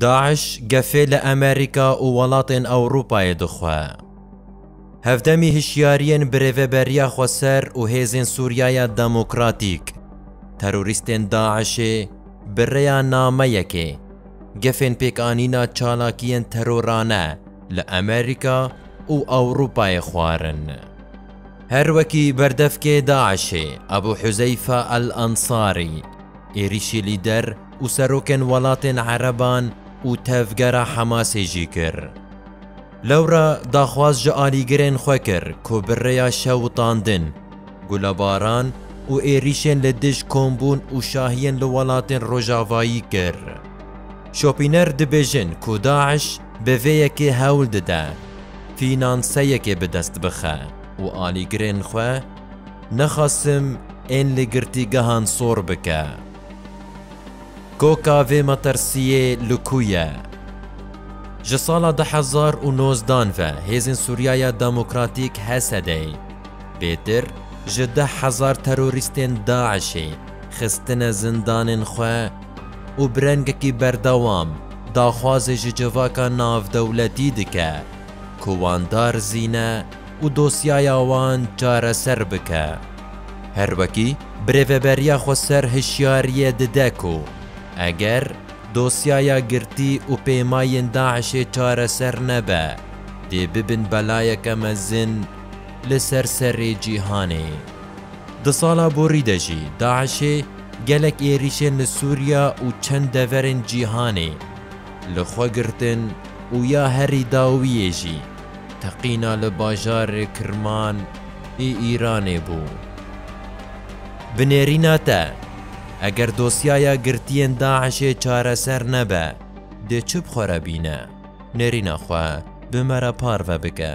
DAIŞ gefê li Amerîka û welatên Ewropayê dixwe. Hevdemî hişyariyên bi Rêveberiya Xweser û Hêzên Sûriyaya Demokratîk, terorîstên DAIŞ'ê bi rêya nameyekê gefên pêkanîna çalakiyên terorane li Amerîka û Ewropayê xwarin. Her wekî berdevkê DAIŞ'ê Ebû Huzeyfa El Ensarî êrîşî lîder û serokên welatên ereban û tevgera Hemasê jî kir. Lewra daxwaz ji alîgirên xwe kir ku bi rêya şewitandin, gulebaran û êrîşên li dij kombûn û şahiyên li welatên rojavayî kir. Şopîner dibêjin ku DAIŞ bi vê yekê hewl dide fînanseyekê bi dest bixe û alîgirên xwe nexasim ên li girtîgehan sor bike. Koka vê matersiyê li ku ye? Ji sala du hezar û nozdan ve Hêzên Sûriyaya Demokratîk, HSD'ê, pêtir ji deh hezar terorîstên DAIŞ'ê xistine zindanên xwe û bi rengekî berdewam daxwazê ji civaka navdewletî dike ku wan darizîne û dosyaya wan çareser bike. Her wekî bi rêveberiya xwe ser hişyariyê dide ku eger dosyaya girtî û pêmayên DAIŞ'ê çareser nebe, dê bibin belayeke mezin li ser serê cîhanê. Di sala borî de jî DAIŞ'ê gelek êrîşên li Sûriya û çend deverên cîhanê li xwe girtin û ya herî dawiyê jî teqîna li bajarê Kirman, ê Îranê bû. Bi nêrîna te, eger dosyaya girtiyên DAIŞ'ê çareser nebe, dê çi bi xwe re bîne? Nêrîna xwe bi me re parve bike.